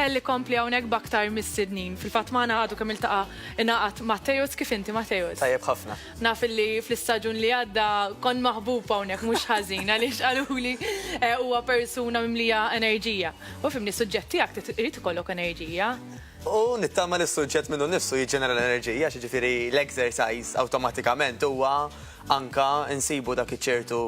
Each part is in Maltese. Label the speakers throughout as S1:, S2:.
S1: Elli kompli hawnhekk baktar mis-sidnin. Fil-fatt magħna għadu kemm iltaqa' ingħaqad Matteus kif inti Matteus. Tajjeb ħafna. Naf
S2: li
S1: fl-istaġun li għadda kon maħbub hawnhekk mhux ħażin għaliex qaluli eh, huwa persuna mimlija enerġija. U fimni suġġett tiegħek irid ikollok enerġija. U nittama
S2: li s-suġġett minnu nifsu jiġġenera l-enerġija, ġifieri l-exercise awtomatikament huwa Anka nsibu dak iċ-ċertu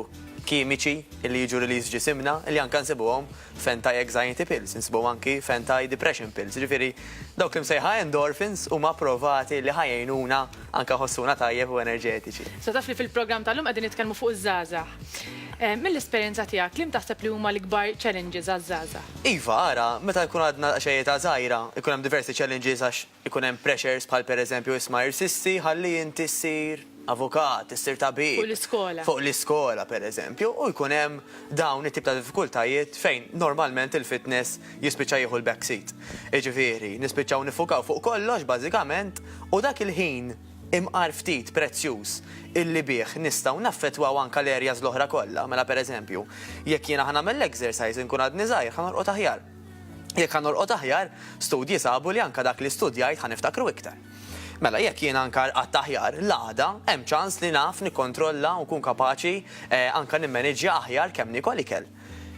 S2: kimiċi li jiġu released f'ġisimna li anka nsibuhom f'anti-anxiety pills, insibuhom anki f'anti-depression pills. Jiġifieri dawk l-imsejħa endorphins huma approvati li ħa jgħinuna anka nħossuna tajjeb u enerġetiċi. Issa taf li fil-programm
S1: tal-lum qegħdin nitkellmu fuq iż-żgħażagħ. Mill-esperjenza tiegħek liema taħseb li huma l-ikbar challenges għaż-żgħażagħ? Iva ara, meta
S2: jkun għadna daqsxejn età żgħira jkun hemm diversi challenges għax Ikun hemm pressures bħal pereżempju isma' irsisti ħalli inti ssir avukat, issir tabib, fuq
S1: l-iskola
S2: pereżempju u jkun hemm dawn it-tip ta' diffikultajiet fejn normalment il-fitness jispiċċa jieħu l-backseat. Jiġifieri, nispiċċaw niffukaw fuq kollox bażikament u dak il-ħin imqar ftit prezzjuż illi bih nistgħu naffettwaw anke l-areas l-oħra kollha, mela pereżempju, jekk jiena ħa nagħmel l-exercise inkun għadni żgħir, ħa norqod aħjar. Jekk ħa norqod aħjar, studji sabu li anke dak li studjajt ħa niftakru iktar. Mela, jekk jien anke rqadt aħjar, l-għada, hemm ċans li naf nikkontrolla u nkun kapaċi anke nimmaniġġja aħjar kemm niekol ikel.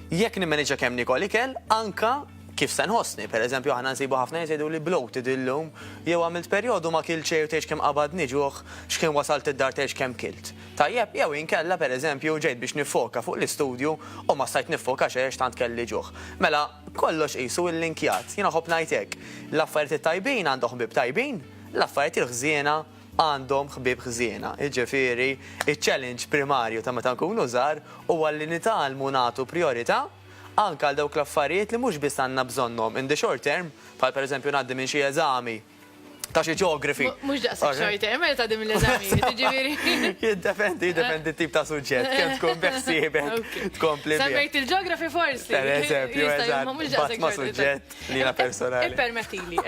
S2: Jekk nimmaniġġja kemm niekol ikel, anke kif se nħossni. Pereżempju, aħna nsibu ħafna nies jgħiduli bloated illum, jew għamilt perjodu ma kiltx xejn u tgħidx kemm qabadni ġuħ, x'kien wasalt id-dar tgħidx kemm kilt. tajjeb jew inkella pereżempju ġejt biex niffoka fuq l-istudju u ma stajt niffoka xejn għax tant kelli ġuħ. Mela, kollox qisu illinkjat. Jiena nħobb ngħid hekk, l-affarijiet it-tajbin għandhom ħbieb tajbin, l-affarijiet il-ħżiena għandhom ħbieb ħżiena. Jiġifieri, iċ-challenge primarju ta' meta nkunu żgħar huwa li nitgħallmu nagħtu prijorità anke għal dawk l-affarijiet li mhux biss għandna bżonnhom in the short term, bħal pereżempju ngħaddi minn xi eżami, ta' xi ġeografi. Mhux daqshekk short
S1: term, mela ta' dim l-eżamijiet, jiġifieri. Jiddependi, jiddependi
S2: t-tip ta' suġġett, kemm tkun beħsiebek tkompli. Semmejt il-ġeografi
S1: forsi. Per eżempju,
S2: eżatt, ma' suġġett li jiena personali. Ippermettili,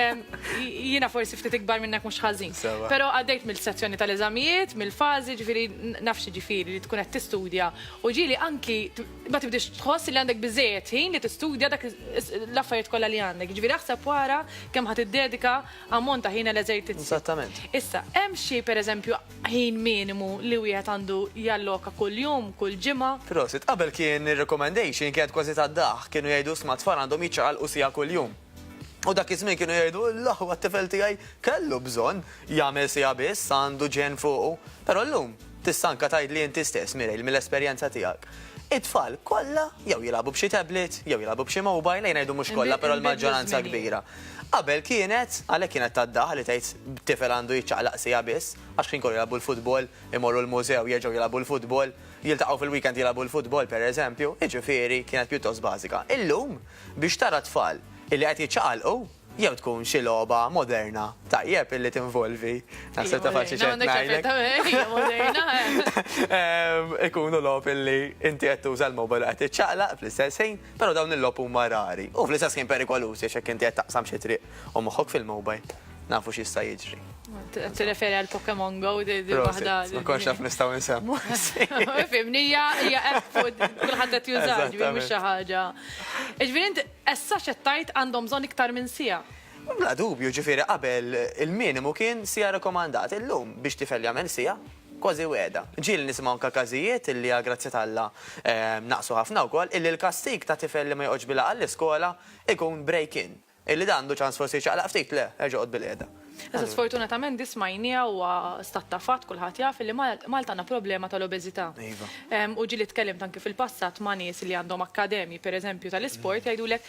S1: jiena forsi ftit ikbar minnek mhux ħażin. Però għaddejt mill-sezzjoni tal-eżamijiet, mill-fażi, jiġifieri naf x'jiġifieri li tkun qed tistudja u ġieli anki ma tibdix tħoss li għandek biżejjed ħin li tistudja dak l-affarijiet kollha li għandek. Ġifieri aħseb wara kemm ħadd iddedika ammont ta' ħin għal eżertizzi. Eżattament. Issa,
S2: hemm xi
S1: pereżempju ħin minimu li wieħed għandu jalloka kuljum, kull ġimgħa? Prosit, qabel kien
S2: ir-recommendation kienet kważi tad-daħk, kienu jgħidu isma' t-tfal għandhom jiċċaqalqu siegħa kuljum. U dak iż-żmien kienu jgħidu, L-aħwa t-tifel tiegħi kellu bżonn jagħmel siegħa biss, għandu ġenn fuqu. Però llum, tista' anke tgħidli inti stess, Mireille, mill-esperjenza tiegħek, it-tfal kollha jew jilagħbu b'xi tablet, jew jilagħbu b'xi mobile, ejja ngħidu mhux kollha, però l-maġġoranza kbira. Qabel kienet, għalhekk kienet tad-daħq li tgħid tifel għandu jiċċaqlaq siegħa biss, għax ħin kollu jilagħbu l-futbol, imorru l-mużew, jerġgħu jilagħbu l-futbol, jiltaqgħu fil-weekend jilagħbu l-futbol, pereżempju, jiġifieri kienet pjuttost bażika. Illum? biex tara t-tfal illi qed jiċċaqalqu jew tkun xi logħba moderna tajjeb illi tinvolvi, naħseb tafx xi xejn ngħidlek. Hija moderna, eh. Ikunu logħob illi inti qed tuża l-mobile qed tiċċaqlaq fl-istess ħin, però dawn il-logħob huma rari u fl-istess ħin perikolużi għax jekk inti qed taqsam xi triq u moħħok fil-mobile. nafu x'jista' jiġri. Tirreferi għal
S1: Pokemon Go di waħda. Ma konx naf nistgħu
S2: nsemmu. Fimni
S1: hija hija app fuq kulħadd qed jużaha ġifieri mhux xi ħaġa. Ġifieri int essa x'qed tgħid għandhom bżonn iktar minn sija. Bla dubju
S2: ġifieri qabel il-minimu kien sija rekomandat. Illum biex tifel jagħmel sija kważi weda. Ġieli nisimgħu anka każijiet illi għal grazzi talla ehm, naqsu ħafna wkoll illi l-kastig ta' tifel li ma joqgħodx bilha għall-iskola ikun break-in. Illi dan għandu ċans forsi jċaqlaq ftit, le, erġa' oqgħod bilqiegħda. Iżda sfortunatament
S1: din smajniha huwa stat ta' fatt kulħadd jaf illi Malta għandna problema tal-obeżità. Iva. U ġieli tkellimt anki fil-passat ma' nies li għandhom akkademji pereżempju tal-isport jgħidulek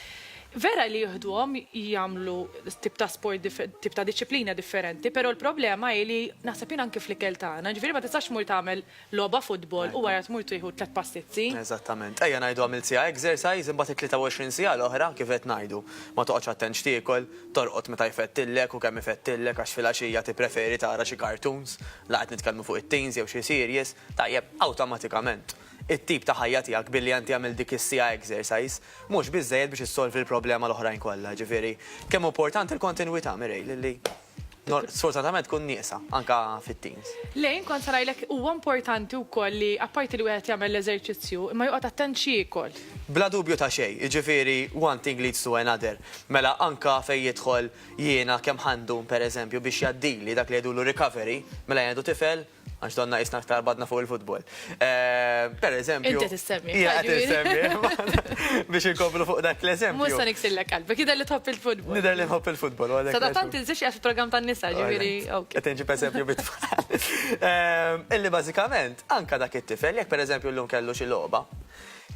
S1: vera li jieħduhom jagħmlu tip ta' sport tip ta' diċċiplina differenti pero l-problema hi li naħseb jien anki fl-ikel tagħna, jiġifieri ma tistax tmur tagħmel logħba futbol u wara tmur tieħu tliet pastizzi. Eżattament. Ejja ngħidu
S2: għamilt siegħa exercise imbagħad it-23 siegħa l-oħra kif qed ngħidu, ma toqgħodx attent x'tiekol, torqod meta jfettillek u kemm ifettillek għax filgħaxija tippreferi tara xi cartoons, la qed nitkellmu fuq it-teens jew xi series, tajjeb, awtomatikament it-tip ta' ħajja tiegħek billi int għamilt dik is-siegħa exercise mhux biżżejjed biex issolvi l-problema l-oħrajn kollha. Jiġifieri kemm hu importanti l-kontinwità, Mireille, li. Sfortunatament tkun nieqsa, anke fit-teens. Le, jien kont se ngħidlek
S1: huwa importanti wkoll li apparti li wieħed jagħmel l-eżerċizzju, imma joqgħod attent x'jiekol. Bla dubju ta' xejn,
S2: jiġifieri one thing leads to another. Mela anke fejn jidħol jiena kemm ħa ndum pereżempju biex jgħaddili dak li jgħidulu recovery, mela jien għadu tifel, Għax donna jisna ktar badna fuq il-futbol. Eh, per eżempju. Inti
S1: tissemmi. Ija,
S2: tissemmi. Biex inkomplu fuq dak l-eżempju. Musa niksillek qalbi, kida
S1: li tħobb il-futbol. Nider li nħobb il-futbol.
S2: Sa da tant il-zix għax
S1: program tan nisa ġiviri. Għetinġi per eżempju
S2: bit eh, Illi bazzikament, anka dak it-tifel, jek per eżempju l-lum kellu xi loba,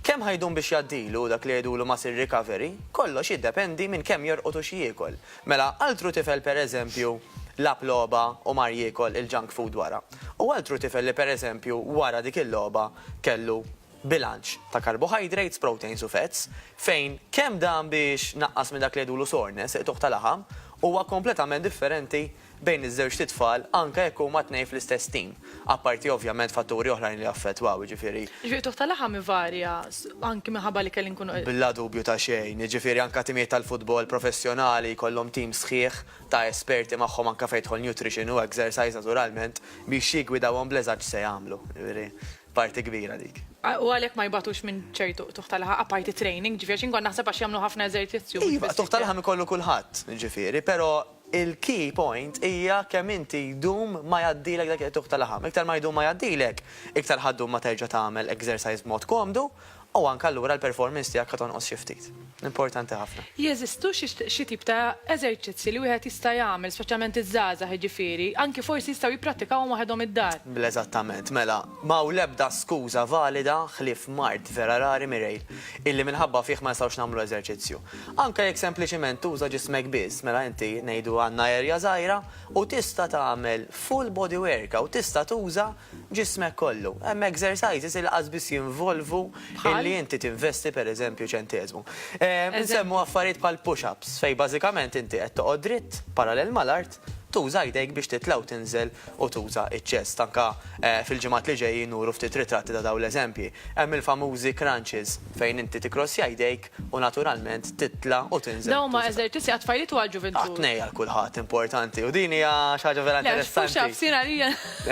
S2: Kemm ħajdun biex jaddilu dak li jgħidulu mass recovery, kollox jiddependi minn kemm jorqotu xi jiekol. Mela, altru tifel pereżempju lagħab logħba u mar jiekol il-junk food wara, u altru tifel li pereżempju wara dik il-logħba kellu bilanċ ta' carbohydrates, proteins u fats, fejn kemm dan biex naqqas minn dak li jgħidulu soreness, iqtugħ ta' laħam, huwa kompletament differenti bejn iż-żewġt itfal anke jekk huma t-tnejn fl-istess tim, apparti ovvjament fatturi oħrajn li jaffettwaw, jiġifieri. Jiġifieri t-tuħ ta' laħam
S1: ivarja anki minħabba li kelli nkunu. Bla dubju ta' xejn,
S2: jiġifieri anke timijiet tal-futbol professjonali jkollhom tim sħiħ ta' esperti magħhom anke fejn jidħol nutrition u exercise naturalment biex jiggwidawhom bl-eżatt x'se jagħmlu, jiġifieri parti kbira dik. U għalhekk ma jbagħtux
S1: minn ċertu tuħ ta' laħam, apparti training, jiġifieri għax jien kont naħseb għax jagħmlu ħafna eżerzizzju mhux biss. Iva, tuħ ta' laħam ikollu
S2: kulħadd, jiġifieri, però Il-key point hija kemm inti jdum ma jgħaddilek dak il-qtugħ ta' laħam. Iktar ma jdum ma jgħaddilek, iktar ħa ddum ma terġa' tagħmel exercise b'mod komdu u anke allura l-performance tiegħek ħa tonqos xi ftit. Importanti ħafna. Jeżistu
S1: xi tip ta' eżerċizzji li wieħed jista' jagħmel, speċjalment iż-żgħażagħ jiġifieri, anke forsi jistgħu jipprattikawhom waħedhom id-dar? Bl-eżattament. Mela,
S2: ma hawn l-ebda skuża valida ħlief mard vera rari, Mireille, illi minħabba fih ma nistgħux nagħmlu eżerċizzju. Anke jekk sempliċiment tuża ġismek biss, mela inti ngħidu għandna erja żgħira u tista' tagħmel full body workout, tista' tuża ġismek kollu. Hemm exercises li laqqas biss jinvolvu illi inti tinvesti pereżempju ċenteżmu. Insemmu affarijiet bħal push-ups fejn bażikament inti qed toqgħod dritt, parallel mal-art, tuża jdejk biex titla' u tinżel u tuża ċ-chest. Anke fil-ġimgħat li ġejjin nuru ftit ritratti ta' dawn l-eżempji. Hemm il-famużi crunches fejn inti tikkrossja jdejk u naturalment titla' u tinżel. Dawn huma eżertizzi għat-tfajliet
S1: u għall-ġuvintur. Għat-tnej għal kulħadd
S2: importanti u din hija xi ħaġa vera interessanti. Le, push-ups jien għalija.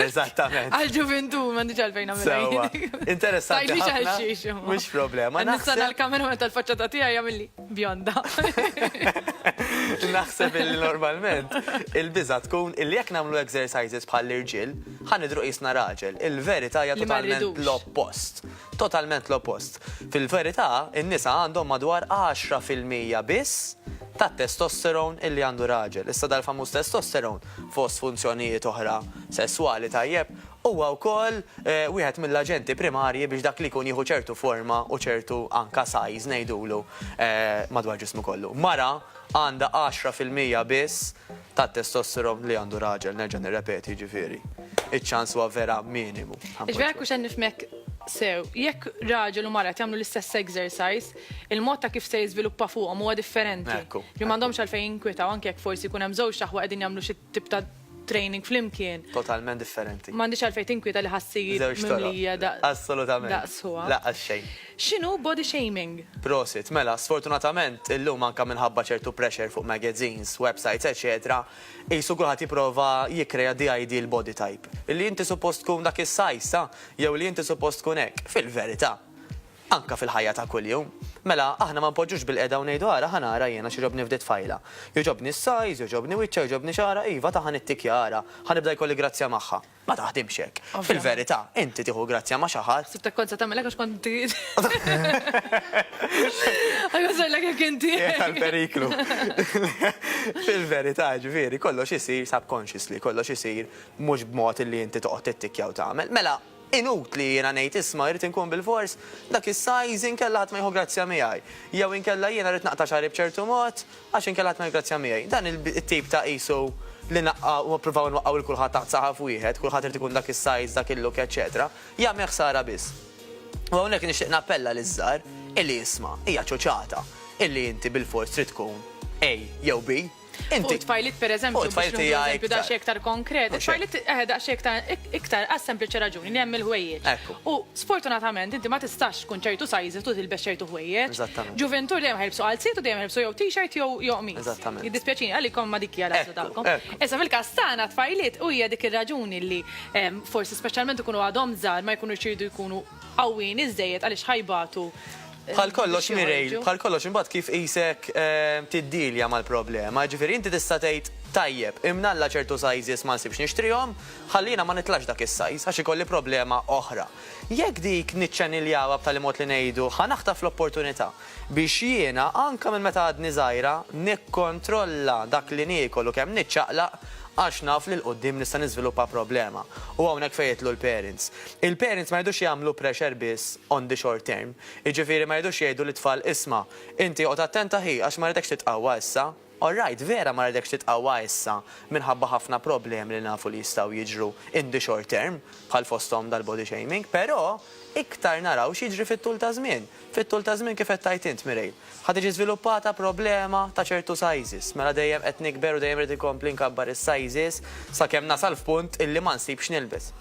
S1: Eżattament.
S2: Għall-ġuvintur m'għandix
S1: għalfejn nagħmilha jien. Sewwa. Interessanti ħafna. Tgħidlix
S2: għal xiex imma. Mhux problema. Nista' nagħmilha meta
S1: l-faċċata tiegħi jagħmilli bjonda.
S2: Naħseb illi normalment il-biża' tkun illi jekk nagħmlu exercises bħall-irġiel, ħa nidhru qisna raġel. Il-verità hija totalment l-oppost. Totalment l-oppost. Fil-verità, in-nisa għandhom madwar għaxra fil-mija biss tat-testosterone illi għandu raġel. Issa dal-famuż testosterone, fost funzjonijiet oħra sesswali, tajjeb, huwa wkoll wieħed mill-aġenti primarji biex dak li jkun jieħu ċertu forma u ċertu anke size ngħidulu madwar ġismu kollu. Mara għandha għaxra fil-mija biss tat-testosteron li għandu raġel, nerġa' nirrepeti, jiġifieri, iċ-ċans huwa vera minimu. Jiġifieri jekk hux qed nifhmek
S1: sew, jekk raġel u mara qed jagħmlu l-istess exercise, il-mod ta' kif se jiżviluppa fuqhom huwa differenti. Li m'għandhomx għalfejn jinkwetaw anke jekk forsi jkun hemm żewġt aħwa qegħdin jagħmlu xi tip ta' training flimkien. Totalment differenti.
S2: M'għandhiex għalfejn tinkwieta li
S1: ħa ssir mimlija daqs. Żewġ toroq. Assolutament. Daqs
S2: ħuha. Laqqas
S1: xejn.
S2: X'inhu body
S1: shaming? Prosit. Mela,
S2: sfortunatament, illum anka minħabba ċertu pressure fuq magazines, websites eċetera, qisu kulħadd jipprova jikkrea the ideal body type. Li inti suppost tkun dak is-size, jew li inti suppost tkun hekk. Fil-verità. Anka fil-ħajja ta' kuljum. Mela, aħna ma npoġġux bil-qiegħda u ngħidu ara ħa nara jiena x'jogħġobni f'di tfajla. Jogħġobni s-size, jogħġobni wiċċha, jogħġobni xagħarha, iva ta' ħa nittikja ara, ħa nibda jkolli grazzja magħha. Ma taħdimx hekk. Fil-verità, inti tieħu grazzja ma' xi ħadd. Sibtek kont se tagħmel hekk għax kont
S1: trid. Għajja żellek jekk inti. Għall-periklu.
S2: Fil-verità, ġifieri, kollox isir subconsciously, kollox isir mhux b'mod li inti toqgħod tittikkja u tagħmel. Mela, inutli jiena ngħid isma' irrid inkun bilfors dak is-size inkella ħadd ma jieħu grazzja miegħi. Jew inkella jiena rrid naqta' xagħri b'ċertu mod Għax inkella ħadd ma jiggrazzja miegħi. Dan it-tip ta' qisu li naqqa' u ppruvaw inwaqqgħu lil kulħadd taħt saħaf wieħed, kulħadd irid ikun dak is-size, dak il-look, eċċetera, jagħmel ħsara biss. U hawnhekk nixtieq nappella liż-żgħar illi isma', hija ċoċata illi inti bilfors trid tkun A jew B. Fuq
S1: it-tfajliet pereżempju, biex nieħdu eżempju
S2: daqsxejn iktar
S1: konkret, it-tfajliet eħe daqsxejn iktar għas-sempliċi raġuni li hemm il-ħwejjeġ. U
S2: sfortunatament
S1: inti ma tistax, tkun ċertu sizes u tilbes ċertu ħwejjeġ. Eżattament. Ġuventur dejjem
S2: ħelbsu qalziet
S1: u dejjem ħelbsu jew t-shirt jew jew qmis. Eżattament. Jiddispjaċini
S2: għalikom ma dik
S1: hija l-għażla tagħkom. Issa
S2: fil-każ
S1: tagħna tfajliet u hija dik ir-raġuni li forsi speċjalment ikunu għadhom żgħar ma jkunux iridu jkunu qawwijin iżżejjed għaliex ħa jbatu. Bħal kollox
S2: Mireille, bħal kollox imbagħad kif qisek tiddealja mal-problema. Jiġifieri inti tista' tgħid, tajjeb, imnalla ċertu sizes ma nsibx nixtrihom, ħalli jiena ma nitlax dak is-size għax ikolli problema oħra. Jekk dik niċċaniljawha b'tali mod li ngħidu, Ħa naħtaf l-opportunità biex jiena, anke minn meta għadni żgħira, nikkontrolla dak li niekol u kemm niċċaqlaq għax naf li 'l quddiem nista' niżviluppa problema. U hawnhekk fejn jidħlu l-parents. Il-parents ma jridux jagħmlu pressure biss on the short term. Jiġifieri ma jridux jgħidu lit-tfal, Isma', inti oqgħod attent aħi għax ma rridekx titqawwa issa. All right, vera ma ridekx titqawwa issa minħabba ħafna problemi li nafu li jistgħu jiġru in the short term, bħal fosthom dal-body shaming, però iktar naraw x'jiġri fit-tul ta' żmien. Fit-tul ta' żmien kif qed tgħid int, Mireille, ħa tiġi żviluppata problema ta' ċertu sizes, mela dejjem qed nikber u dejjem irid inkompli nkabbar is-sizes sakemm nasal f'punt illi ma nsibx nilbes.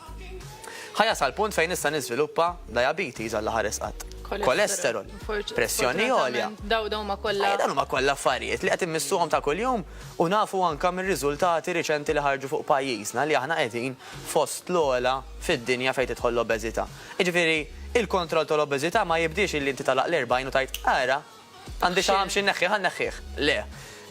S2: Ħa jasal punt fejn nista' niżviluppa diabetes Alla ħares qatt. Kolesterol, pressjoni għolja. Dawn huma kollha.
S1: Dawn huma kollha affarijiet
S2: li qed immissuhom ta' kuljum u nafu anke mir-riżultati riċenti li ħarġu fuq pajjiżna li aħna qegħdin fost l-ogħla fid-dinja fejn tidħol l-obeżità. Jiġifieri, il-kontroll tal-obeżità ma jibdiex illi inti tagħlaq l-40 u tgħid, ara, Għandi xi ħamx inneħħih, ħa nneħħih. Le.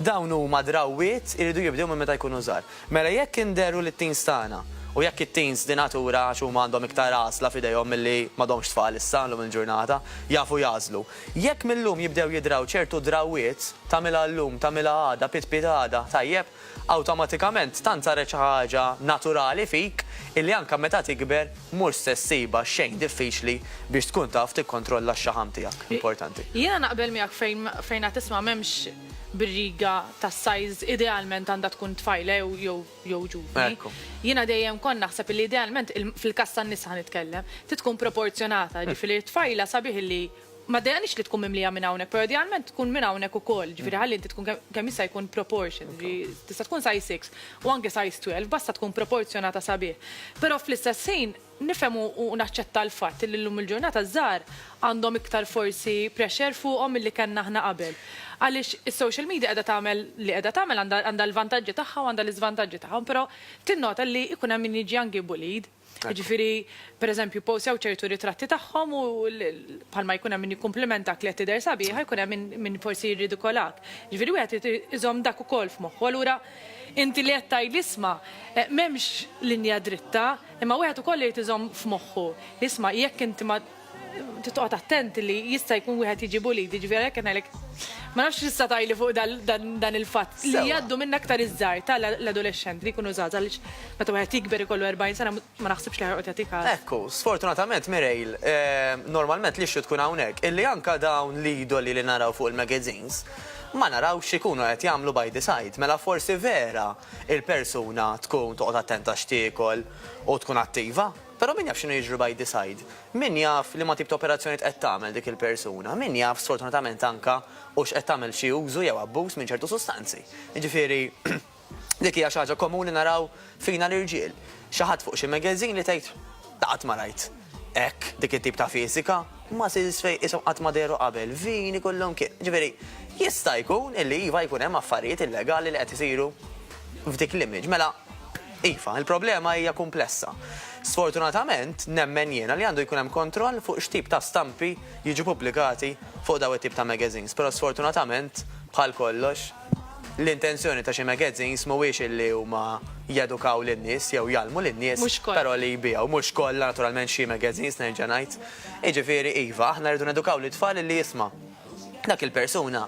S2: Dawn huma drawwiet iridu jibdew minn meta jkunu żgħar. Mela jekk inderru lit-teens tagħna, u jekk it-teens din natura għax huma għandhom iktar għażla f'idejhom milli m'għadhomx tfal issa llum il-ġurnata, jafu jagħżlu. Jekk mil-lum jibdew jidraw ċertu drawwiet, tagħmilha llum, tagħmilha għada, pitpit għada, tajjeb? Awtomatikament tant saret xi ħaġa naturali fik illi anke meta tikber mhux se ssibha xejn diffiċli biex tkun taf tikkontrolla x-xaħam tiegħek. Importanti. Jiena naqbel miegħek
S1: fejn fejn qed isma' m'hemmx birriga tas-size idealment għandha tkun tfajla jew jew jew ġuvni. Ekku. Jiena dejjem kont naħseb illi idealment il fil-każ tan-nisa ħa nitkellem trid tkun proporzjonata, jiġifieri t-tfajla sabiħ illi Ma ddejjaqnix li tkun mimlija minn hawnhekk, però idealment tkun minn hawnhekk ukoll, jiġifieri ħalli inti tkun kemm jista' jkun proportioned, jiġifieri tista' tkun size six u anke size twelve, basta tkun proporzjonata sabiħ. Però fl-istess ħin nifhem u naċċetta l-fatt li llum il-ġurnata ż-żgħar għandhom iktar forsi pressure fuqhom milli kellna aħna qabel. Għaliex is-social media qiegħda tagħmel li qiegħda tagħmel għandha l-vantaġġi tagħha u għandha l-iżvantaġġi tagħhom, però tinnota li jkun hemm min jiġi anki bullied. Jiġifieri, pereżempju, posew ċertu ritratti tagħhom u bħalma jkun hemm min jikkumplimentak li qed tidher sabiħa jkun hemm min forsi jirridikolak. Jiġifieri wieħed irid iżomm dak ukoll f'moħħu. Allura inti li qed tgħidli isma' m'hemmx linja dritta, imma wieħed ukoll irid iżomm f'moħħu li isma' jekk inti ma Titqgħod attent li jista' jkun wieħed jiġi bulid, jiġifieri għalhekk qed ngħidlek ma nafx x'issa tajli fuq dan il-fatt li jgħaddu minn aktar iż-żgħar ta' l-adolexxent li jkunu żgħażagħ għaliex meta wieħed jikber ikollu 40 sena ma naħsibx li ħa joqgħod jagħti kas. Ekku, sfortunatament
S2: Mireille, normalment l-issue tkun hawnhekk illi anke dawn l-idoli li naraw fuq il-magazines ma narawx x'ikunu qed jagħmlu by the side. Mela forsi vera il-persuna tkun toqgħod attenta x'tiekol u tkun attiva. Però min jaf x'inhu jiġri by the side? Min jaf liema tip ta' operazzjonijiet qed tagħmel dik il-persuna? Min jaf sfortunatament anke hux qed tagħmel xi użu jew abbuż minn ċertu sustanzi? Jiġifieri dik hija xi ħaġa komuni naraw fina l-irġiel. Xi ħadd fuq xi magazine li tgħid, Qatt ma rajt hekk, dik it-tip ta' fiżika, muscles fejn qishom qatt ma dehru qabel, vini kullimkien. Jiġifieri jista' jkun illi iva jkun hemm affarijiet illegali li qed isiru f'dik l-image. Mela, Iva, il-problema hija kumplessa. Sfortunatament, nemmen jiena li għandu jkun hemm kontroll fuq x'tip ta' stampi jiġu pubblikati fuq dawn it-tip ta' magazines, però sfortunatament, bħal kollox, l-intenzjoni ta' xi magazines mhuwiex illi huma jedukaw lin-nies jew jgħallmu lin-nies, però li jbigħu. Mhux kollha, naturalment xi magazines, nerġa' ngħid. Jiġifieri, iva, aħna rridu nedukaw lit-tfal illi jisma'. Dak il-persuna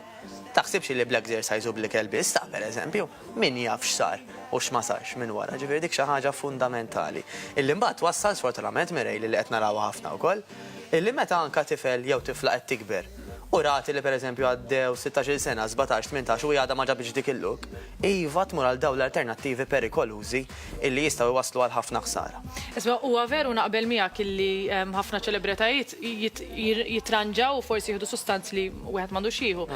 S2: taħsibx li bl-exercise u bl-ikel biss, ta' per eżempju, min jaf x'sar u x'ma sarx minn wara. Ġifieri dik xi ħaġa fundamentali. Illi mbagħad twassal sfortunatament Mireille li qed narawha ħafna wkoll, illi meta anke tifel jew tifla qed tikber u rat li per eżempju għaddew sittax-il sena, sbatax, tmintax u hi għadha ma ġabitx dik il-look, iva tmur għal dawn l-alternattivi perikolużi. illi jistgħu jwasslu għal ħafna ħsara. Isma' huwa veru
S1: naqbel miegħek illi ħafna ċelebretajiet jitranġaw u forsi jieħdu sustanz li wieħed m'għandux jieħu.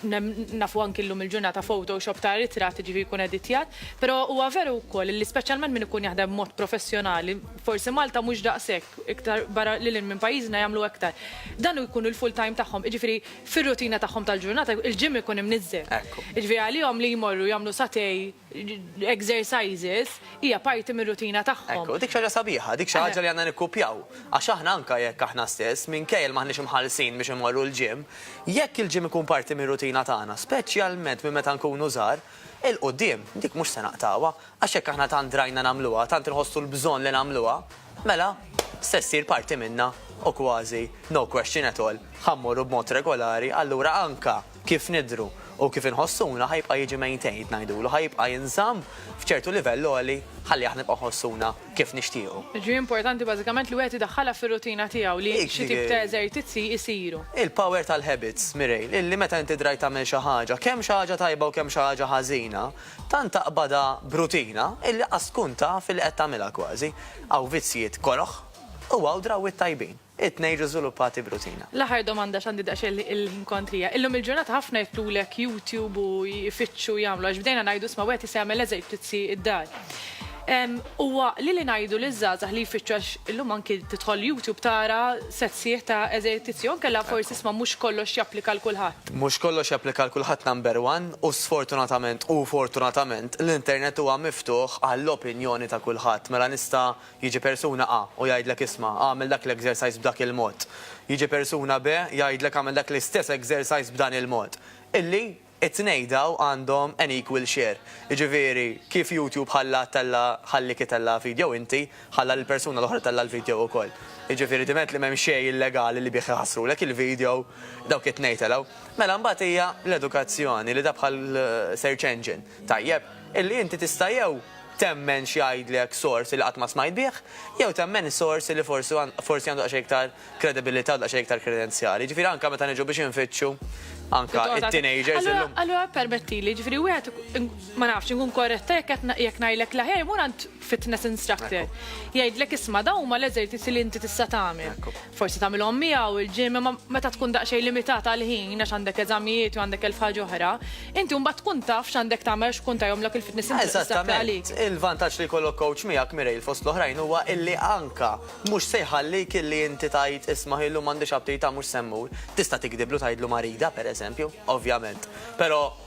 S1: Nafu anki llum il-ġurnata Photoshop ta' ritratt ġifi jkun editjat, però huwa veru wkoll li speċjalment min ikun jaħdem mod professjonali, forsi Malta mhux daqshekk, iktar barra lil hinn minn pajjiżna jagħmlu aktar. Dan jkun il-full time tagħhom, jiġifieri fir-rutina tagħhom tal-ġurnata il-gym ikun imniżżel. Jiġifieri għalihom li jmorru jagħmlu satej, exercises hija parti mir-rutina tagħhom. Hekk hu, dik xi ħaġa sabiħa, dik
S2: xi ħaġa li għandna nikkupjaw. Għax aħna anke jekk aħna stess, minkejja li m'aħniex imħallsin biex immorru l-gym, jekk il-gym ikun parti mir-rutina tagħna, speċjalment minn meta nkunu żgħar, 'il quddiem dik mhux se naqtgħuha. Għax jekk aħna tant drajna nagħmluha, tant inħossu l-bżonn li nagħmluha, mela se ssir parti minna u kważi, no question at all, ħa mmorru b'mod regolari, allura anke kif nidhru u kif inħossuna ħa jibqa' jiġi maintained ngħidulu, ħa jibqa' jinżamm f'ċertu livell għoli ħalli aħna nibqgħu nħossuna kif nixtiequ. Jiġifieri importanti
S1: bażikament li wieħed idaħħalha fir-rutina tiegħu li xi tip ta' eżertizzi jsiru. Il-power tal-habits,
S2: Mireille, illi meta inti drajt tagħmel xi ħaġa, kemm xi ħaġa tajba u kemm xi ħaġa ħażina, tant taqbadha b'rutina illi qas tkun taf illi qed tagħmilha kważi. Hawn vizzjiet koroh u hawn drawwiet tajbin. It-tnejn jiġu żviluppati b'rutina. L-aħħar domanda x'għandi
S1: daqsxejn il-ħin kontrija. Illum il-ġurnata ħafna jitlulek YouTube u jfittxu u jagħmlu għax bdejna ngħidu isma' wieħed jista' jagħmel eżertizzi d-dar. Huwa għaqli li ngħidu liż-żgħażagħ li jfittxu għax illum anki tidħol YouTube tara set sħiħ ta' eżertizzi jew inkella forsi isma' mhux kollox japplika għal kulħadd. Mhux kollox japplika għal
S2: kulħadd number one u sfortunatament u fortunatament l-internet huwa miftuħ għall-opinjoni ta' kulħadd. Mela nista' Jiġi persuna A u jgħidlek isma' agħmel dak l-exercise b'dak il-mod. Jiġi persuna B jgħidlek agħmel dak l-istess exercise b'dan il-mod. Illi it-tnej daw għandhom an equal share. Jiġifieri kif YouTube ħalla tella' ħallik itella' video inti, ħalla lill-persuna l-oħra tella' l-video ukoll. Jiġifieri diment li m'hemm xejn illegali li bih iħassrulek il-video, dawk it-tnej telgħu. Mela mbagħad hija l-edukazzjoni li da bħal search engine. Tajjeb. Illi inti tista' jew temmen x'jgħidlek sors illi qatt ma smajt bih, jew temmen sors illi forsi forsi għandu daqsxejn iktar kredibilità u daqsxejn iktar kredenzjali. Jiġifieri anke meta niġu biex infittxu anke it-teenagers illum. Allura permettili,
S1: jiġifieri wieħed ma nafx inkun korretta jekk qed jekk ngħidlek l-aħjar imur għand fitness instructor. Jgħidlek isma' dawn huma l-eżerċizzi li inti tista' tagħmel. Forsi tagħmilhom miegħu l-gym imma meta tkun daqsxejn limitat għal ħin għax għandek eżamijiet u għandek elf ħaġa oħra, inti mbagħad tkun taf x'għandek tagħmel għax tkun tajhomlok il-fitness inti tista' tagħmel għalik. Eżattament. Il-vantaġġ li jkollok
S2: coach miegħek, Mireille, fost l-oħrajn huwa illi anke mhux se jħallik illi inti tgħid isma' illum m'għandix aptita mhux se mmur. Tista' tigdiblu tgħidlu marida, pereżempju, ovvjament. Però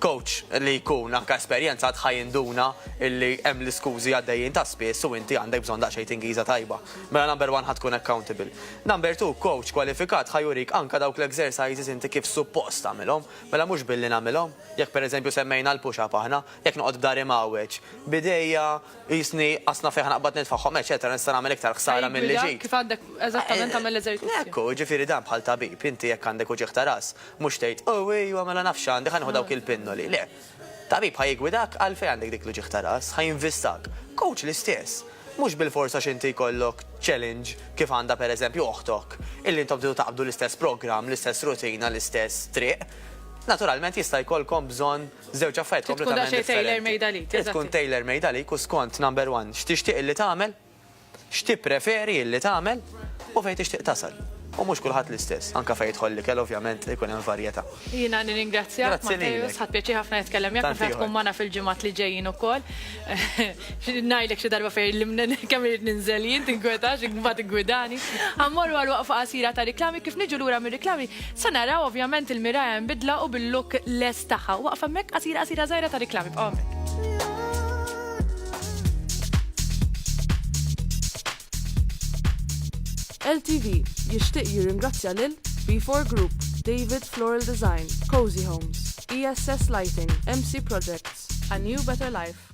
S2: Coach li jkun anke esperjenzat ħa jinduna illi hemm l-iskużi għaddejjin ta' spiss u inti għandek bżonn daqsxejn tingiża tajba. Mela number one ħa tkun accountable. Number two, coach kwalifikat ħa jurik anke dawk l-exercises inti kif suppost tagħmilhom, mela mhux billi nagħmilhom. Jekk pereżempju semmejna l-push up aħna, jekk noqgħod b'dar imgħawweġ, b'idejja qisni qasna fejn ħa naqbad nitfagħhom eċċetera nista' nagħmel iktar ħsara milli ġid. Ħa jiggwidak kif għandek eżattament
S1: tagħmel l-eżerċizzju. Ekku, jiġifieri dan bħal
S2: tabib, inti jekk għandek uġigħ ta' ras, Mhux tgħid, Oh, ejwa, mela naf x'għandi, ħa nieħu dawk il-pinnoli. Le. Tabib ħa jiggwidak għalfejn għandek dik l-uġigħ ta' ras, ħa jinvistak. Kowċ l-istess. Mhux bilfors għax inti jkollok challenge kif għandha pereżempju oħtok, illi intom tridu taqbdu l-istess programm, l-istess rutina, l-istess triq, naturalment jista' jkollkom bżonn żewġ affarijiet kompletament differenti. Trid tkun daqsxejn tailor-made għalik. Trid tkun tailor-made għalik u skont, number one, x'tixtieq illi tagħmel. X'tippreferi illi tagħmel u fejn tixtieq tasal. U mhux kulħadd l-istess. Anke fejn jidħol l-ikel ovvjament ikun hemm varjetà. Jiena nirringrazzjak
S1: Matteus, ħadt pjaċir ħafna nitkellem miegħek, naf li ħatkun magħna fil-ġimgħat li ġejjin ukoll. Ngħidlek xi darba fejn irrid kemm irrid ninżel jien, tinkwetax, imbagħad iggwidani. Ħa mmorru għal waqfa qasira ta' riklami, kif niġu lura mir-riklami se naraw ovvjament il-Miragħa imbidla u bil-look lest tagħha. Waqfa hemmhekk qasira qasira żgħira ta' riklami, bqgħu hemmhekk.
S3: LTV jixtieq jirringrazzja lil B4 Group, David Floral Design, Cozy Homes, ESS Lighting, MC Projects, A New Better Life.